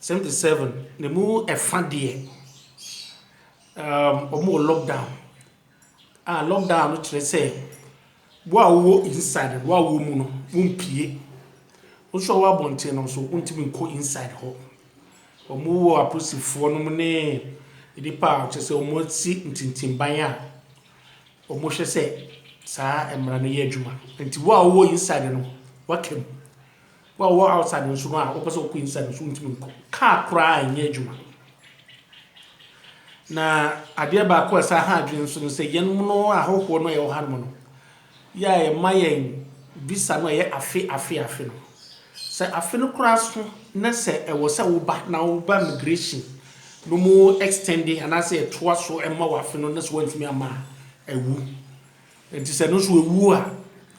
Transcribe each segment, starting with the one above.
Seventy seven ne mu ɛfa deɛ um, wɔn wɔ lockdown a ah, lockdown no kyerɛ sɛ wo a wowɔ inside wo a wɔ mu no wompie wo nso a wɔ abɔnten no nso wontumi nkɔ inside hɔ wɔn wɔ apolisifoɔ no mu ne nnipa a kyerɛ sɛ wɔn asi ntintimban a wɔn hwɛ sɛ saa mmara no yɛ adwuma nti wo a wowɔ inside no wakam. Wo a wowɔ outside nso no a wopɛ sɛ wokɔ inside nso wontumi nkɔ. Car koraa nyɛ adwuma. Na adeɛ baako a ɛsan ha adwene nso no sɛ yɛn mono ahɔhoɔ no a yɛwɔ hanom no, yɛ a yɛma yɛn visa no ɛyɛ afe afe afe no. Sɛ afe no koraa so na sɛ ɛwɔ sɛ woba na woba migration na ɔmo extende anaasɛ yɛtoa so ma wo afe no na sɛ woantumi amma a, awu. Nti sɛ ɛno nso ɛwu a,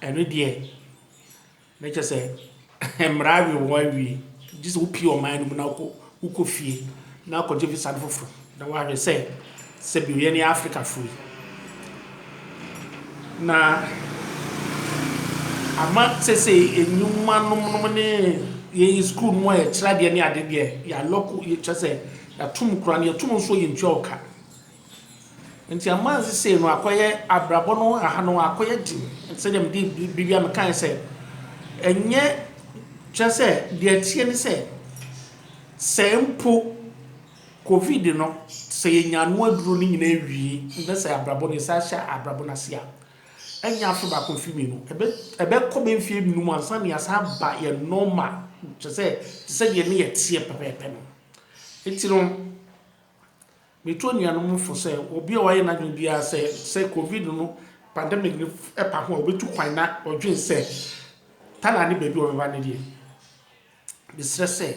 ɛno deɛ Na kyerɛ sɛ mmara awe wɔn awie. Gye sɛ wopue ɔman no mu na wokɔ wokɔ fie na akɔgye visa no foforo na wahwɛ sɛ sɛbi yɛne Afrikafo yi. Na ama sesei nnwuma nom nom ne yɛyi sukuu nom a yɛkyerɛ adeɛ ne ade deɛ yɛalɔko kyerɛ sɛ yɛatom koraa no yɛtom nso yɛntua wo ka. Ntsi ama sesei no akɔyɛ abrabɔ no aha no akɔyɛ dzen tse dɛ mede biribi a mekãe sɛ nnyɛ kyerɛ sɛ deɛ ɛteɛ ne sɛ sɛ mpo covid no sɛ yɛnya ano aduro no nyinaa wie na sɛ abrabɔ no yɛsan hyɛ abrabɔ no ase a ɛnyɛ afe baako mfe mmienu ɛbɛkɔ bɛ mfeɛ nnum ansa na yɛasan aba yɛ normal kyerɛ sɛ te sɛ deɛ ne yɛteɛ pɛpɛɛpɛ no nti no Metu anuanom fo sɛ obi a wayɛ n'adwene biara sɛ sɛ Covid no pandemic no pa ho a obetu kwan na ɔdwen sɛ Thailand ne baabi a ɔbɛba no deɛ, mesrɛ sɛ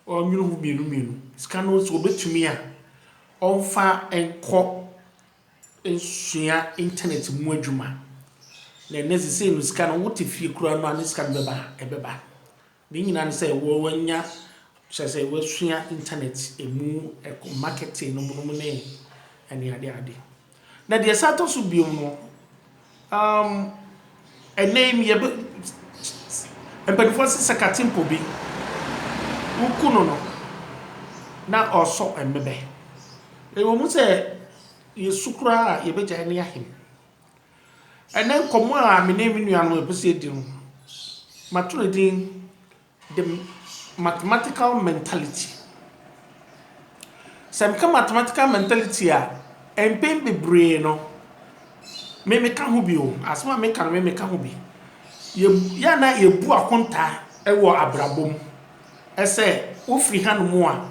ɔnnwene ho mmienu mmienu. Sika no sɛ obetumi a, ɔmfa nkɔ nsua internet mu adwuma. Na ɛnnɛ sesei no sika no wote fie koraa no a ne sika no bɛba a, ɛbɛba. Ne nyinaa ne sɛ wɔanya, kyerɛ sɛ wɔasua internet mu marketing nom nom ne ɛne ade ade. Na deɛ ɛsan tɔ so bio no, um, ɛnnɛ yi meyɛ bɛ, mpanimfoɔ se sɛ katempo bi, woku no no, na ɔresɔ mmebɛ. Ɛwɔ mu sɛ yɛsu koraa a yɛbɛgyae ne ahem. Ɛnnɛ nkɔmmɔ a me ne me nuanom a yɛpɛ sɛ yɛdi no, mato no din The Mathematical Mentality. Sɛ meka mathematical mentality a, mpɛn bebree no, me meka ho bi o, asɛm a meka no me meka ho bi. Yɛ yɛ a na yɛbu akontaa wɔ abrabɔ mu sɛ wofiri hanom a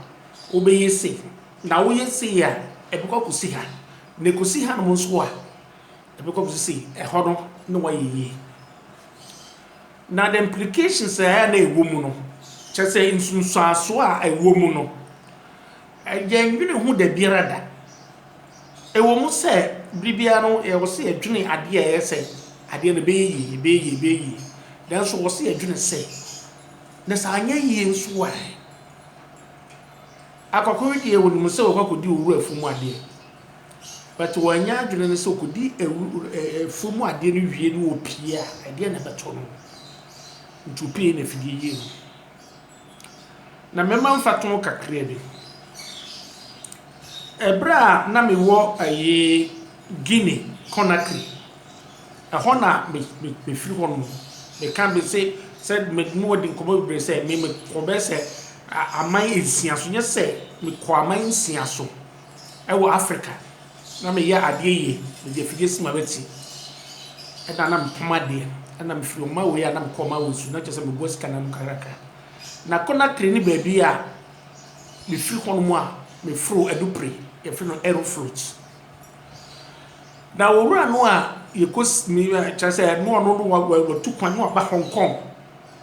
wobɛyɛ sei, na woyɛ sei a ɛbɛkɔ akɔsi ha, na ɛkɔsi hanom nso a, Ebi kɔ so se ɛhɔ no na wayɛ yie. Na the implications a na ɛwɔ mu no, kyerɛ sɛ nsunsuansoɔ a ɛwɔ mu no, yɛnnwene ho da biara da. Ɛwɔ mu sɛ bere biara no yɛwɔ sɛ yɛdwene adeɛ a ɛyɛ sɛ adeɛ no ɛbɛyɛ yie, ɛbɛyɛ yie, ɛbɛyɛ yie. Nanso wɔ sɛ yɛdwene sɛ, na sɛ anyɛ yie nso a ɛ? Akɔkɔwe deɛ wɔnim sɛ wɔkɔ akɔdi owura afuo mu adeɛ. But wanyɛ adwene no sɛ ɔkɔdi afuom adeɛ no wie no ɔpie a, ɛdeɛn na ɛbɛtɔ no? Nti ɔpie na afidie yie no. Na mɛma mfatoho kakra bi. Ɛberɛ a na mewɔ ɛyi Guinea, Conakry, ɛhɔ na me me mefiri hɔ nom. Meka bi se sɛ me ne wo adi nkɔmmɔ bebree sɛ me mekɔ bɛyɛ sɛ aman nsia so nyɛ sɛ mekɔ aman nsia so. Ɛwɔ Africa na me yɛ adeɛ yie me de afidie si m'abati ɛna na me pam adeɛ ɛna me firi ɔman wei a na me kɔ ɔman wei so na kyerɛ sɛ me boa sika na mu kakrakra na Conakry ne baabi a me firi hɔ nom a me foro adupre yɛ firi no aerofloat na owura no a yɛ kɔ me kyerɛ sɛ no ɔno no watu kwan no aba Hong Kong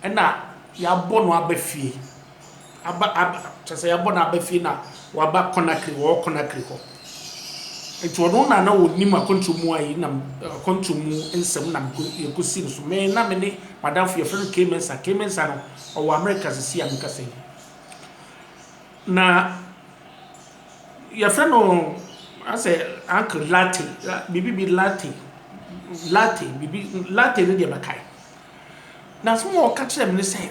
ɛna yɛ abɔ no aba fie. aba aba kyerɛ sɛ yɛabɔ no aba fie na waba Conakry, wɔwɔ Conakry hɔ. Nti ɔno na na ɔnim akwantuo mu a yei nam akwantuo mu nsɛm nam yɛkɔsi no so. Me na me ne madamfo yɛfrɛ no Kay Mensah. Kay Mensah no ɔwɔ America sisi a mekasa yi. Na yɛfrɛ no asɛ uncle latte biribi bi latte latte biribi latte no deɛ mɛkae. Na asɛm a ɔka kyerɛɛ me ne sɛ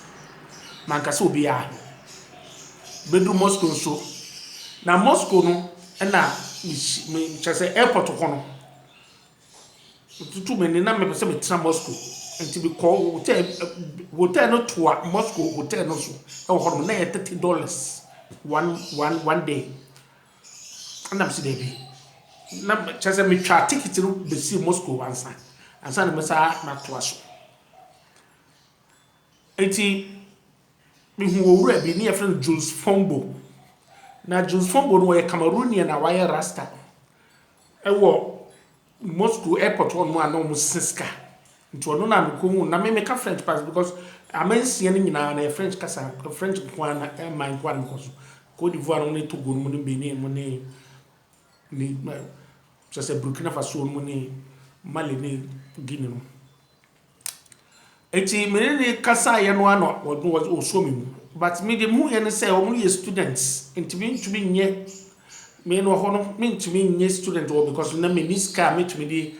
manka sɛ obiara ho. Bɛduru Moscow nso, na Moscow no na kyerɛ sɛ airport hɔ no, tutu me ne na mepɛ sɛ metena Moscow nti mekɔ hotel hotel no toa Moscow hotel no so ɛwɔ hɔ nom na yɛ thirty dollars one one one day ɛna mesi daabi na kyerɛ sɛ metwa ticket no besi Moscow ansa ansa na mesa matoa so. Enti mehuu owura bi, ne yɛfrɛ no Jules Fombo. Na Jules Fombo no, ɔyɛ Cameroonian a wayɛ rasta. Ɛwɔ Moscow airport hɔnom a na wɔsesa sika. Nti ɔno na mekohuu. Na me meka French paa because aman nsia no nyinaa no ɛyɛ French kasa, French nko ara na aman nko ara na mekɔ so. Cote d'Ivoire nom ne Togo nom ne Benin nom ne ne kyerɛ sɛ Burkina Faso nom ne Mali ne Guinea nom. Enti me ne no kasaeɛ no ara na ɔsɔɔ me mu. But me deɛ me huiɛ ne sɛ wɔn yɛ students nti me ntumi nyɛ me no hɔ no me ntumi nyɛ student hɔ because na me nni sika a me tumi de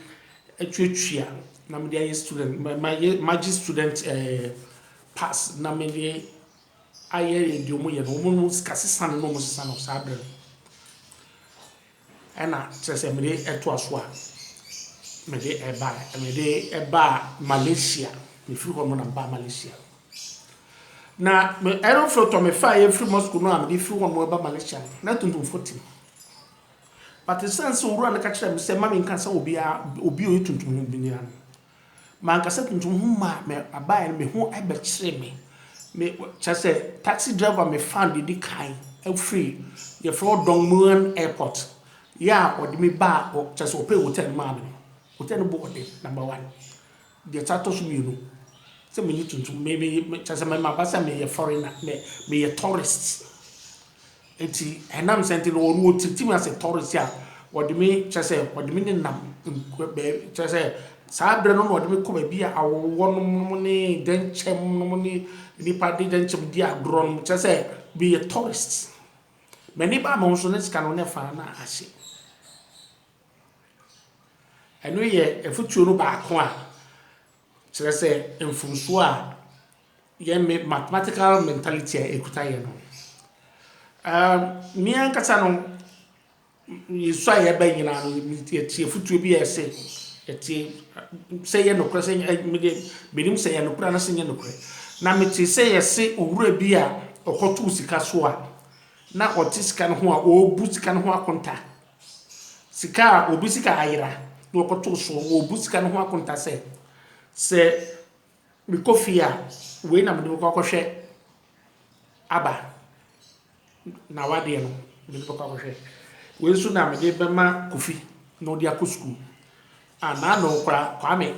atuatua na me de ayɛ student mayɛ magye student ɛɛ eh, pass na me de ayɛ deɛ wɔn yɛ no wɔn no sika sesa no na wɔn sesa no saa berɛ no. Ɛna kyerɛ sɛ mede ɛtoa so a mede ɛbaɛ mede ɛbaa Malaysia mefiri hɔ nom na mebaa Malaysia na me aeroflotɔ mefaeɛ firi Moscow no a mede firi hɔ nom ɛba Malaysia no na tuntumfoɔ te mu but ɛsiane sɛ owura no ka kyerɛɛ me sɛ mma menka sɛ obiara obi ɔyɛ tuntum ho biara no Mankasa kuntun ho maa me abae no me ho bɛkyeree me. Me kyerɛ sɛ taxi driver me fan de di kan firi yɛfrɛ hɔ Dong Mueang Airport yɛ a ɔde me baa kyerɛ sɛ ɔpɛɛ hotel no maa me no. Hotel no bɔɔ den number one. Deɛ ɛsan tɔ so mmienu sɛ me nyi tuntum me me kyerɛ sɛ mɛma aba sɛ meyɛ foreigner me meyɛ tourist. Ntsi enam sɛ ntsi no ɔno otsitsi me ase tɔrse a ɔde me kyerɛ sɛ ɔde me nenam nku bɛ kyerɛ sɛ saa berɛ no na ɔde me kɔ baabi a awɔwɔ nom nom ne dɛnkyɛm nom ne nnipa de dɛnkyɛm di agorɔ nom kyerɛ sɛ meyɛ tɔrst m'ani baa me ho so ne sika no ne faa na ahye ɛno yɛ afutuo no baako a Kyerɛ sɛ, mfomsoɔ a yɛn me mathematical mentality a ɛkuta yɛn no. Um, me ankasa no, yɛsu a yɛbɛ nyinaa no, yɛte afutuo bi a ɛse, yɛte sɛ yɛ nokorɛ sɛ mede menim sɛ yɛ nokorɛ anasɛ nyɛ nokorɛ. Na mete sɛ yɛse owura bi a ɔkɔtoo sika so a na ɔte sika no ho a ɔrebu sika no ho akonta. Sika a obi sika ayera na ɔkɔtow so na obu sika no ho akonta sɛ, Sɛ mekɔ fie a, wei na mede bɛkɔ akɔhwɛ aba. N'awadeɛ no, mede bɛkɔ akɔhwɛ. Wei nso na mede bɛma Kofi na ɔde akɔ sukuu. Ah naano kwa kwame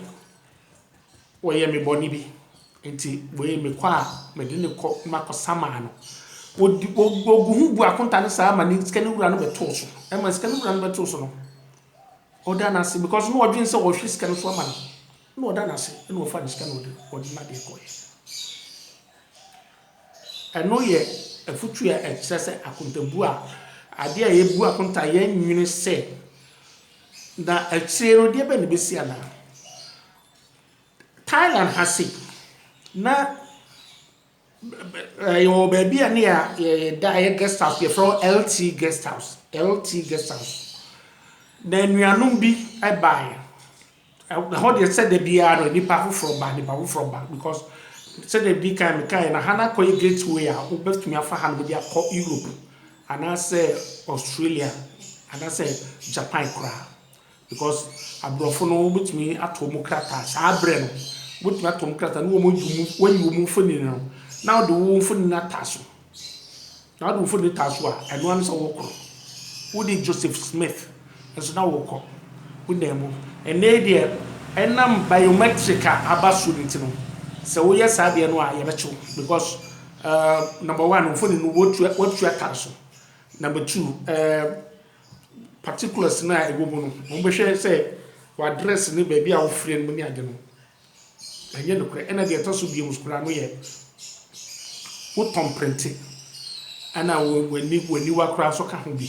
wɔyɛ me bɔne bi nti wei mekɔ a mede no kɔ na makɔ samaa no wɔdi wɔgu ho bu akonta no saa ma ne sika no wura no bɛtoo so ɛma sika no wura no bɛtoo so no ɔda no ase because na ɔdwen sɛ wɔhwe sika no so ama no na ɔda no ase na ɔfa ne sika na ɔde ɔde no adeɛ kɔɛ Ɛno yɛ afotu a ɛkyerɛ sɛ akontabuo a adeɛ a yɛbu akonta yɛn nwene sɛ na akyire no deɛ bɛn na ɛbɛsi anaa. Thailand ha se na yɛwɔ baabi a ne yɛda yɛ guest house yɛfrɛ hɔ LT guest house LT guest house na anuanom bi baeɛ Ɛhɔ deɛ sɛ da biara no nnipa afoforɔ ba, nnipa afoforɔ ba because sɛdeɛ ɛdi kan mekaeɛ no, ha no akɔyɛ gateway a wobɛtumi afa ha no baabi akɔ Europe anaasɛ Australia anaasɛ Japan koraa because aborɔfo no wobɛtumi ato wɔn krataa saa berɛ no, wobɛtumi ato wɔn krataa na wɔayi wɔn mfonini no na wode wo mfonini no ata so. N'adwumfo de taa so a, ɛno ara ne sɛ wɔkɔ. Wode Joseph Smith nso na wɔkɔ, wonam mu. Ɛnnɛ yi deɛ, ɛnam biometric a aba so no nti no, sɛ woyɛ saa deɛ no a, yɛbɛkye wo because eh, number one, mfoni no wotua, wotua tar so. Number two, eh, particulars no a ɛwɔ mu no, wɔbɛhwɛ sɛ w'address ne baabi a wofrɛ no mu ne ade no. Ɛnyɛ nokorɛ. Ɛna deɛ ɛtɔ so bio nso koraa no yɛ wo tɔn prente ɛna w'aniwa koraa nso ka ho bi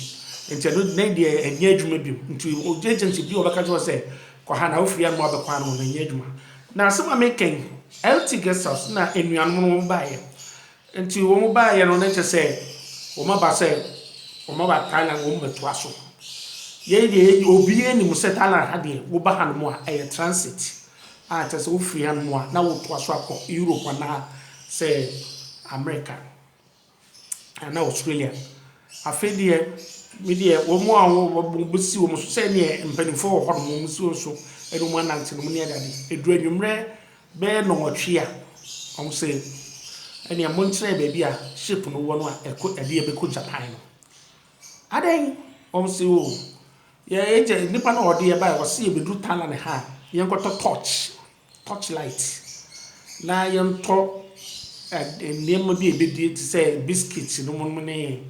nti ɛno na deɛ ɛnyɛ adwuma bio nti ogye agents bi a wɔbɛka kyerɛ sɛ kɔ ha na wofiri ano abɛkɔ ano no ɛnyɛ adwuma na asɛm a mekɛn LT guest house na anuanom no baeɛ Enti wɔn baeɛ no, na kyerɛ sɛ wɔn aba sɛ wɔn aba Thailand wɔn bɛtoa so. Yei deɛ yɛn obiara nim sɛ Thailand ha deɛ woba hanom a ɛyɛ transit a kyerɛ sɛ wofiri hanom a na wotoa so akɔ Europe anaa sɛ America anaa Australia. Afei deɛ me deɛ wɔn a wɔbɛsi wɔn so sɛ neɛ mpanimfoɔ wɔ hɔnom wɔn si wɔn so ɛna wɔn anante nom ne adade. Ɛduru anwummerɛ Bɛyɛ nnɔnwɔtwe a, wɔn se, Ɛnea monkyerɛ baabi a ship no wɔ no a ɛkɔ ɛde ɛbɛkɔ Japan no. Adɛn? Wɔn se, Oh, yɛn agya, nipa no a ɔde yɛn bae, ɔse yɛbɛduru Thailand ha a, yɛnkɔtɔ torch, torch light, na yɛntɔ ɛde nneɛma bi a yɛbɛdi te sɛ biscuit nom nom ne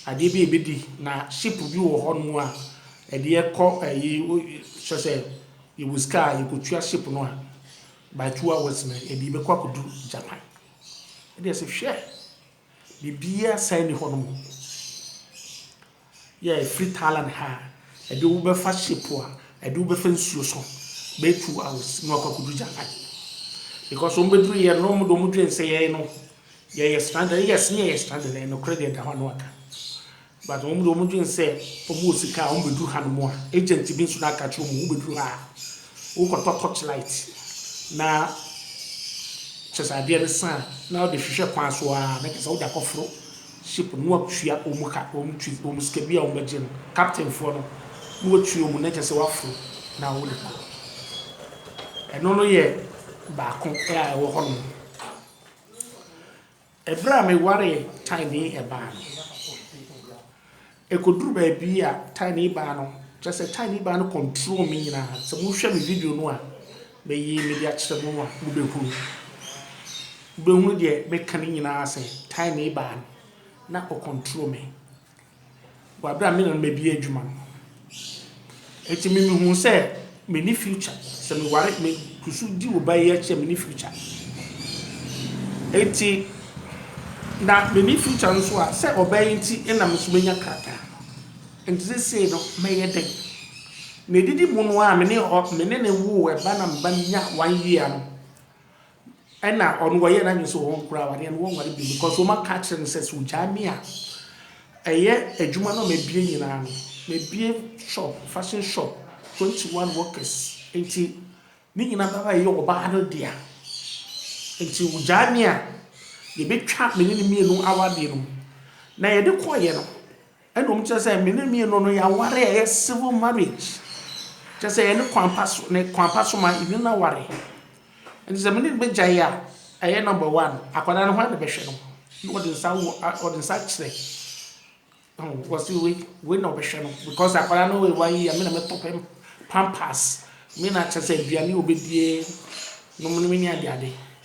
adeɛ bi a yɛbɛdi, na ship bi wɔ hɔnom a ɛde yɛkɔ ɛyi, kyerɛ sɛ, Yɛwɔ sika a yɛkɔtua ship no a by two hours no yɛde yɛbɛkɔ akɔduru Japan. Ɛdeɛ sɛ hwɛ! Biribiara sane nni hɔnom. Yɛ firi Thailand ha a ɛde wo bɛfa ship a ɛde wo bɛfa nsuo so bɛyɛ two hours na wakɔ akɔduru Japan. Because wɔn bɛduru yɛ no wɔn de wɔn dwene sɛ yɛn no yɛyɛ stranded. Yes ne yɛyɛ stranded, ɛyɛ nokorɛ deɛ ɛda hɔ a na waka. But wɔn de wɔn dwen sɛ wɔn wɔ sika a wɔn bɛ duru ha nom a agent bi nso na aka kyerɛ wɔn wo bɛ duru ha a wo kɔ tɔ torch light na kyɛ sɛ adeɛ no sa a na ɔde hwehwɛ kwan so aa na kyɛ sɛ wo de akɔ foro ship no na wa tua wɔn ka wɔn twi wɔn sika bi a wɔn bɛ gye no captain foɔ no na wa tua wɔn na kyɛ sɛ wa foro na wo de kɔ ɛno no yɛ baako a ɛwɔ hɔ nom. Ɛberɛ a me waree Tiny baa no, ɛkɔduru baabi a Tiny baa no, kyerɛ sɛ Tiny baa no control me nyinaa, sɛ mo hwɛ me video no a me yii me de akyerɛ mo no a mo bɛ hunu, mo bɛ hunu deɛ me ka no nyinaa sɛ Tiny baa no na ɔcontrol me. wɔ aber a me na no mebia edwuma no. Ntsi me muhun sɛ menni future, sɛ mowar me kusu dzi wo bae akyir a menni future. Ntsi na menni future no so a sɛ ɔbaa yi ntsi nna me so menya krataa. Ntsi sesei no mɛyɛ dɛn? Na edidi mu no a me ne ɔ me ne no woo ba na me ba no nyaa one year no, Ɛna ɔno wayɛ nadwene sɛ ɔnkora awadeɛ no wɔnware bio because wɔn aka akyerɛ no sɛ sɛ ɔgyae me a ɛyɛ adwuma no a mabie nyinaa no mabie shop fashion shop twenty one workers nti ne nyinaa bɛba bɛyɛ ɔbaa no dea nti ɔgyae me a yɛbɛtwa me ne no mmienu awadeɛ no na yɛde kɔeɛ no Ɛna wɔn kyerɛ sɛ me ne me no no yɛaware a ɛyɛ civil marriage kyerɛ sɛ yɛne kwan pa so ne kwan pa so ma yɛne no aware nti sɛ me ne no bɛgyae a ɛyɛ number one akwadaa no hwan na bɛhwɛ no na wɔde nsa wɔ wɔde nsa kyerɛ wɔsi wei wei na ɔbɛhwɛ no because akwadaa no wɔ one year me na mɛtɔ pɛm pampers me na kyerɛ sɛ aduane a ɔbɛdie nom no me ne ade ade.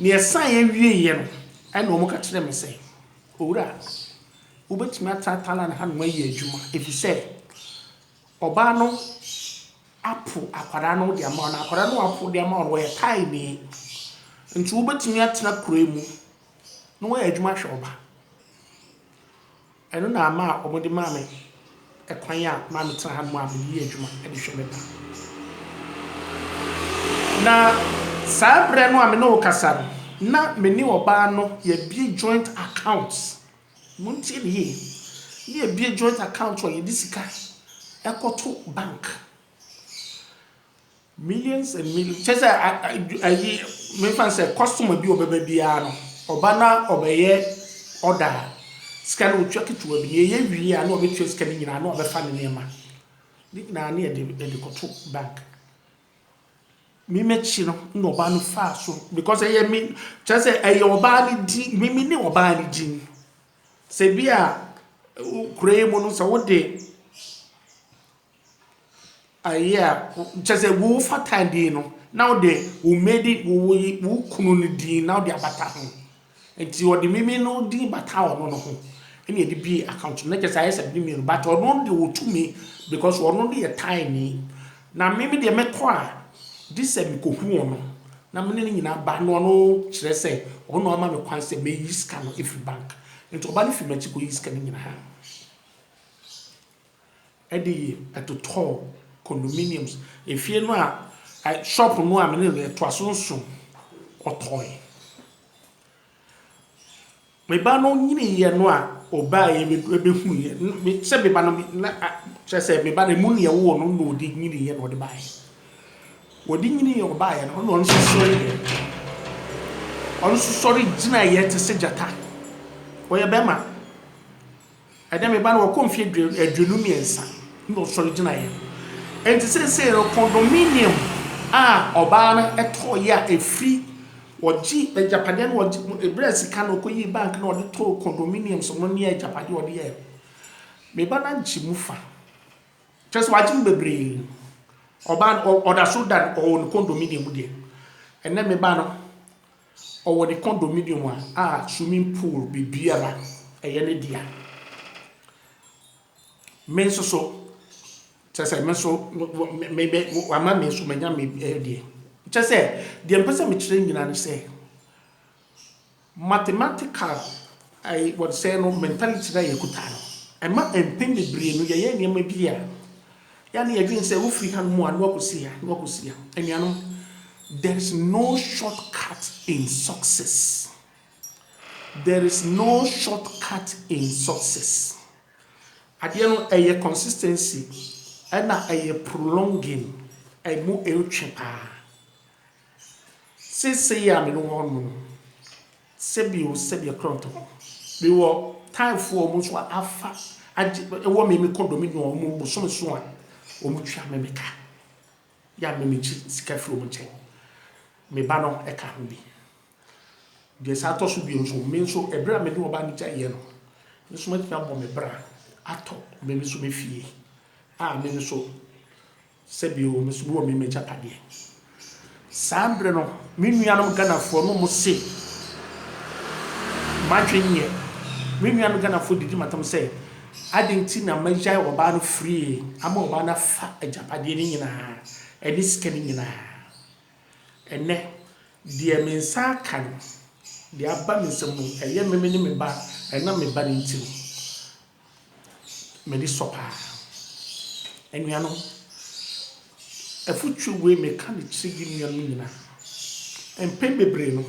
Nea ɛsaeɛ wieeɛ no, ɛnna wɔka kyerɛɛ me sɛ, Owura, wobɛtumi atena Thailand hanom ayɛ adwuma, ɛfiri sɛ ɔbaa no apo akwadaa no de ama wo, na akwadaa no a wapo de ama wo no, ɔyɛ Thaini. Nti wobɛtumi atena kuro yi mu na woayɛ adwuma ahwɛ wo ba. Ɛno na ama wɔde maa me ɛkwan a ma metena hanom a mede yɛ adwuma de hwɛ me ba. Na saa berɛ no a me ne wo rekasa no, na me ne ɔbaa no yɛabue joint account, montie me yie, na yɛabue joint account a yɛde sika kɔto bank. Millions and millions kyerɛ sɛ ayi mefa no sɛ customer bi ɔbɛba biara no ɔba na ɔbɛyɛ order a sika no ɔtua ketewa bi na yɛyɛ wie a na wabɛtua sika no nyinaa na wabɛfa ne nneɛma ne nyinaa ne yɛde yɛde kɔto bank me mɛkyi no na ɔbaa no faa so because ɛyɛ me kyerɛ sɛ ɛyɛ ɔbaa no din me me ne ɔbaa no din sɛ bi a kura yi mu no sɛ wode ayɛ a kyerɛ sɛ wo fata din no na wode wo maiden wo kunu no din na wode abata ho nti ɔde mimi no din bata ɔno no ho ɛna ɛde bie account no kyerɛ sɛ ayɛ sɛ ne mmienu but ɔno de ɔtumi because ɔno no yɛ tae ni na mimi deɛ mɛkɔ a gye sɛ mekɔhu ɔno na mene no nyinaa ba na ɔno kyerɛ sɛ ɔno ama me kwan sɛ mɛyi sika no ɛfiri bank nti ɔba no firi m'akyi kɔyi sika no nyinaa de yɛ ɛtotɔɔ condominiums efie no a ɛ shop no a me ne no yɛtoa so nso ɔtɔɔe. Me ba no nyiniiɛ no a ɔbaeɛ me bɛhuuiɛ no me sɛ me ba no me na a kyerɛ sɛ me ba no ɛmu neɛ wowɔ no na ɔde nyiniiɛ na ɔde baeɛ. Ɔde nyiniiɛ ɔbaeɛ no na ɔno nso sɔreeɛ ɔno nso sɔre gyinaeɛ te sɛ gyata ɔyɛ bɛɛma. Ɛnnɛ me ba no wakɔ mfe aduonu mmiɛnsa na ɔsɔre gyinaeɛ. Enti seesei no, condominium a ɔbaa no tɔeɛ a ɛfiri ɔgye agyapadeɛ no ɔgye ɛbrɛ sika na ɔkɔyii bank na ɔde tɔɔ condominiums no ne agyapadeɛ ɔde yɛɛ no, me ba no agye mu fa. Kyerɛ sɛ wagye mu bebree. Ɔbaa no ɔda so da ɔwɔ ne condominium deɛ. Ɛnnɛ me ba no. Ɔwɔ ne condominium a a swimming pool biribiara ɛyɛ ne dea. Me nso so kyerɛ sɛ me nso me me wama me nso manya me deɛ. Kyerɛ sɛ deɛ mpɛ sɛ mekyerɛ nyinaa ne sɛ mathematical. I wɔde sɛɛ no mentality no a yɛkuta no, ɛma mpɛn bebree no yɛyɛ nneɛma bi a, yɛ a na yɛdwene sɛ wofiri hanom a na wakɔsi ha, na wakɔsi ha. Anuanom, there is no short cut in success. There is no short cut in success. Adeɛ no ɛyɛ consistency ɛna ɛyɛ prolonging, ɛmu ɛretwe paa. Seesei a me ne wɔn no, sɛ bio sɛ deɛ krɔntɔ no, me wɔ Thai foɔ a wɔn nso afa agye wɔ me me condominium wɔn bosom nson a wɔn tua me me ka. Yɛ a me me gye sika firi wɔn nkyɛn. Me ba no ɛka ho bi. Deɛ saa tɔ so bio nso, me nso ɛberɛ a me ne ɔbaa no gya yɛ no, me nso matumi abɔ me bra atɔ me me nso me fie a me nso. Sɛ bio me nso bi wɔ me m'agyapadeɛ. Saa berɛ no me nuanom Ghanafoɔ no mo se m'adwene nyɛ. Me nuanom Ghanafoɔ didi m'atam sɛ adɛn nti na magyae ɔbaa no frie ama ɔbaa no afa agyapadeɛ no nyinaa ɛne sika no nyinaa. Ɛnnɛ deɛ me nsa aka no, deɛ aba me nsam no ɛyɛ me me ne me ba ɛnam me ba no nti no. M'ani sɔ paa. Anuanom, afotuo wei meka no kyerɛ yɛn nuanom nyinaa. Mpɛn bebree no,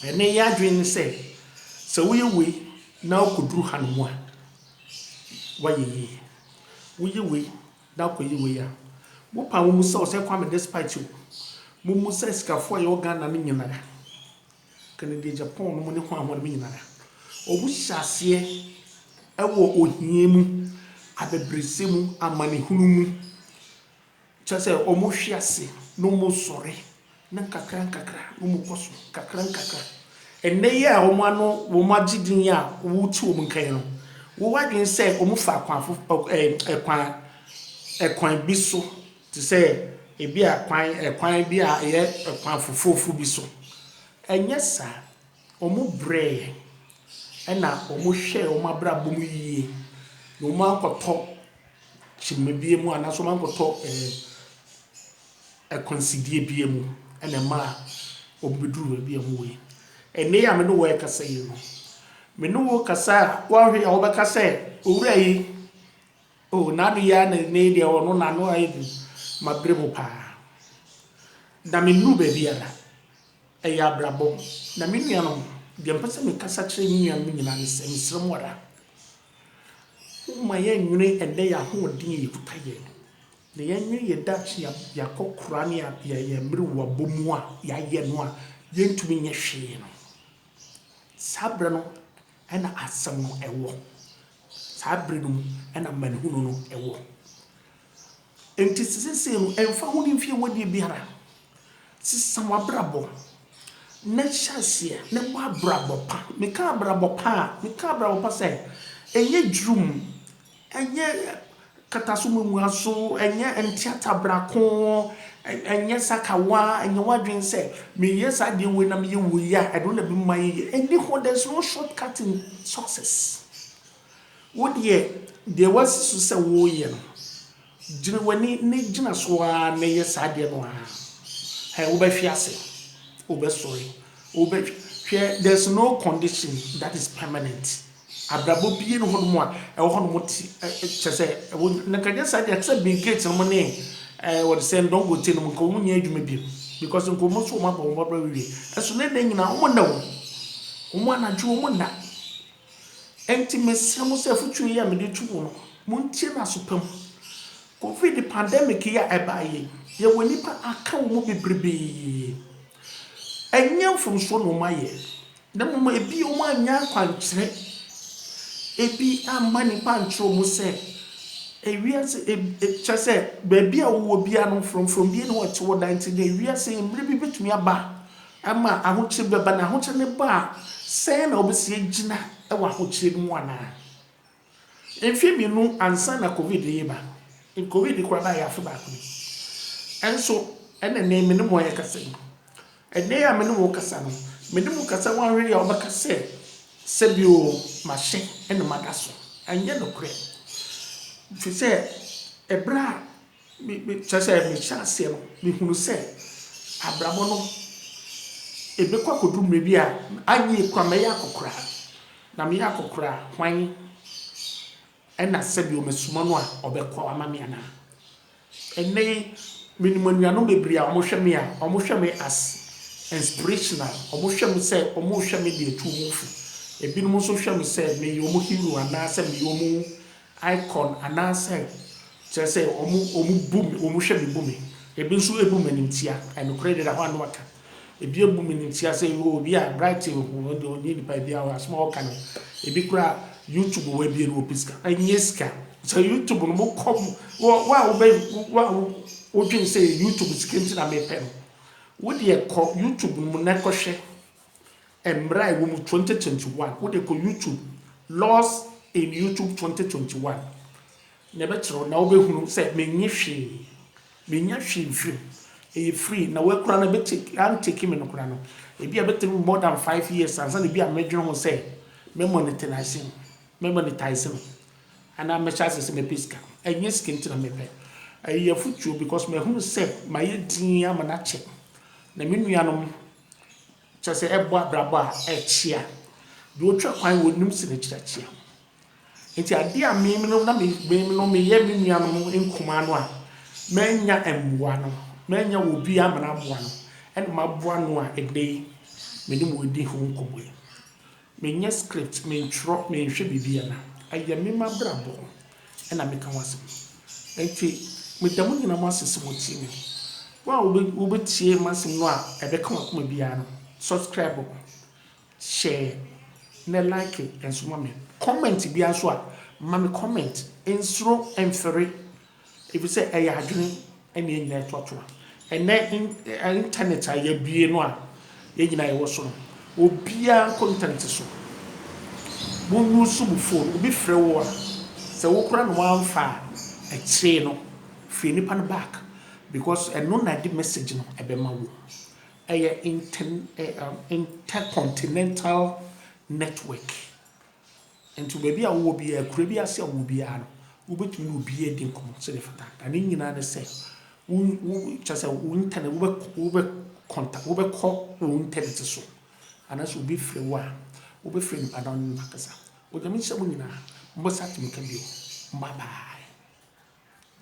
ɛnnɛ yɛn adwene ne sɛ, sɛ woyɛ wei na wokɔduru hanom a, woayɛ yie. Woyɛ wei na wokɔyɛ wei a, wopɛ a wommisa wo sɛ Kwame Despite o, mommusa asikafoɔ a yɛwɔ Ghana no nyinaa. Kennedy Agyapong no mu ne hwan hɔnom nyinara, ɔmu hyɛ aseɛ wɔ ohia mu, abɛbrɛsɛ mu, amanehunu mu, kyerɛ sɛ ɔmu hwe ase na ɔmu sɔre na nkakra nkakra na ɔmu kɔ so, nkakra nkakra. Ɛnnɛ yi a ɔmu ano, ɔmu agye din yi a wo te ɔmu nka yi no, wo adwene sɛ ɔmu fa kwan fofo, ɛɛ, kwan, kwan bi so, te sɛ ebia kwan, ɛkwan bi a ɛyɛ ɛkwan foforofo bi so. Ɛnyɛ saa. Wɔbrɛɛ yɛn, ɛna wɔhwɛɛ wɔn abrabɔ mu yie, na wɔankɔtɔ kyima biara mu anaasɛ wɔankɔtɔ ɛɛ akwansideɛ biara mu, ɛna ɛmaa wɔbɛduruu baabi a wɔwɔ yi. Ɛnnɛ yi a me ne wo rekasa yi no, me ne wo rekasa a, woahwɛ yi a wobɛka sɛ, Owura yi, Oh Nado yi ara na nnɛ yi deɛ wɔ no n'ano ayɛ duru mabrɛ mu paa na me nnuru baabiara ɛyɛ abrabɔ na me nuanom deɛ mpɛ sɛ me kasa kyerɛ me nuanom nyinaa ne sɛ mesrɛ mu ara woma yɛ nwene ɛnɛ yɛ ahoɔden yɛ yɛkuta yɛ na yɛ nwene yɛ dakye yɛakɔ kora ne yɛ yɛ mmere wɔ abɔ mu a yɛayɛ no a yɛntumi nyɛ hwee no saa berɛ no na Asɛm no wɔ. Saa bere no mu na amanehunu no wɔ. Enti seesei no, ɛmfa ho ne mfe a woadi biara, sesa w'abrabɔ na hyɛ aseɛ na bɔ abrabɔ pa. Meka abrabɔ pa a, meka abrabɔ pa sɛ ɛnyɛ dwiriw mu. Ɛnyɛ kataso muamuaso, ɛnyɛ nteata brako, ɛnyɛ sakawa, ɛnyɛ w'adwene sɛ meyɛ saa adeɛ wei na meyɛ wei a ɛno na ɛbɛma mayɛ yie. Ɛnni hɔ, there's no short cut in success. Wo deɛ, deɛ woasi so sɛ woreyɛ no, Gyina w'ani na gyina so ara na yɛ saa adeɛ no ara. Hɛ, wobɛhwe ase, wobɛsɔre, wobɛ, hwɛ, there is no condition that is permanent. Abrabɔ bie ne hɔ nom a ɛwɔ hɔ nom te, ɛ, ɛ, kyɛ sɛ, ɛwɔ, na kanyɛ saa deɛ, te sɛ Bill Gates nom ne, ɛ, wɔde sɛ Ndongote nom, nka wɔn nyɛ adwuma bio. Because nka wɔn nso wɔn abɔ wɔn abrabɔ awie. Ɛso na ɛnɛ nyinaa wɔn nna wɔn. Wɔn anadwo wɔn nna. Enti mesrɛ mo sɛ afotuo yi a mede reto mo no, montie no aso pa mu. Covid pandemic yi a ɛbaeɛ yi, yɛwɔ nnipa a aka wɔn mu bebrebe. Ɛnyɛ mfomsoɔ na wɔayɛ, na mmom ebi wɔannya akwankyerɛ. Ebi amma nnipa ankyerɛ wɔn sɛ ewiase eb e kyerɛ sɛ baabi a wowɔ biara no, frɔmfrɔm bi na wɔte hɔ daa nti, na ewiase mmere bi bɛtumi aba a Ɛma ahokyere bi ba, na ahokyere no ba a, sɛn na wobesi agyina wɔ ahokyere no mu anaa? Mfe mmienu ansa na Covid reba, Covid koraa bae afe baako ni, nso ɛna nnɛ me ne mo rekasa yi, ɛnnɛ yi a me ne mo rekasa no, me ne mo rekasa, woanhwɛ yie a wobɛka sɛ, Sɛbi o, mahyɛ na mada so. Ɛnyɛ nokorɛ, ɛfiri sɛ bere a Me me kyerɛ sɛ me hyɛ aseɛ no me hunu sɛ abrabɔ no ɛbɛkɔ akɔduru mmerɛ bi a anyɛ yie koraa mɛyɛ akɔkoraa na meyɛ akɔkoraa hwan ɛna sɛdeɛ ɔmasuma no a ɔbɛkɔ ama me anaa ɛnnɛ yi menim anuanom bebree a wɔn hwɛ me a wɔn hwɛ me as inspirational wɔn hwɛ me sɛ wɔn rehwɛ me deɛ tu wɔn fo ebinom nso hwɛ me sɛ meyɛ wɔn hero anaa sɛ meyɛ wɔn icon anaasɛ kyerɛ sɛ wɔn wɔn bu me wɔn hwɛ me bu me ebi nso ebu me animtia ɛnokorɛ deɛ da hɔ a na waka ebi ebu me animtia sɛ yoo obi a bright ho wɔn deɛ ɔnye nipa ebi a asɛm a ɔka no ebi kora youtube wɔ ebie no wɔ pɛ sika ɛnyɛ sika sɛ youtube no mo kɔ mo wɔ wɔ a wobɛ wɔ a wo wodwen sɛ youtube sika nti na mepɛ no wo deɛ kɔ youtube no mo na kɔhwɛ. Mmara a ɛwɔ mu twenty twenty one wode kɔ YouTube laws in YouTube twenty twenty one na ɛbɛkyerɛ wo na wobɛhunu sɛ menye hwee menya hwee mfiri mu ɛyɛ free na woakura no bɛtake antake me no kora no ebi a bɛtumi more than five years ansa na ebi a mɛdwene ho sɛ mɛ monetize no mɛ monetize no anaa mɛhyɛ ase sɛ mɛpɛ sika ɛnyɛ sika nti na mɛpɛ ɛyɛ afotuo because mahunu sɛ mayɛ din ama no akyɛ na me nuanom Kyerɛ sɛ, ɛbɔ abrabɔ a ɛkyea. Deɛ ɔtwa kwan wɔ nim sene kyerɛ kyea. Enti adeɛ a me menom na me menom meyɛ me nuanom nkumaa no a mannya mmoa no, mannya obi amena aboa no, ɛna maboa no a ɛnnɛ yi me ne mo redi ho nkɔmmɔ yi. Menyɛ script, mentwerɛ, menhwɛ biribiara. Ɛyɛ me m'abrabɔ na meka ho asɛm. Enti meda mo nyinaa mo ase sɛ motie me. Wo a wobɛtie m'asɛm no a ɛbɛka w'akoma biara no, subscribe, share, na like nso ma me. Comment biara nso a, ma me comment. Nsuro mfiri. Efisɛ ɛyɛ adwene na yɛn nyinaa atuatua. Ɛnnɛ intanɛt a yɛabue no a yɛn nyinaa yɛwɔ so no, obiara kɔ intanɛt so. Wo use wo fon, obi frɛ wo a, sɛ wo koraa na woamfa a, akyire no frɛ nipa no back because ɛno na ɛde message no bɛma wo. Ɛyɛ inter continental network. Nti baabi a wowɔ biara, akura bi ase a wowɔ biara no, wobɛtumi ne obiara adi nkɔmmɔ sɛdeɛ ɛfata. Na ne nyinaa ne sɛ, wo wo kyerɛ sɛ wo intanɛt wobɛ wobɛ kɔnta wobɛkɔ wo intanɛt so anaasɛ obi frɛ wo a, wobɛfrɛ nipa no ne no akasa. Onyame nhyira mo nyinaa. Mobɛsa atumi ka bio. Bye bye.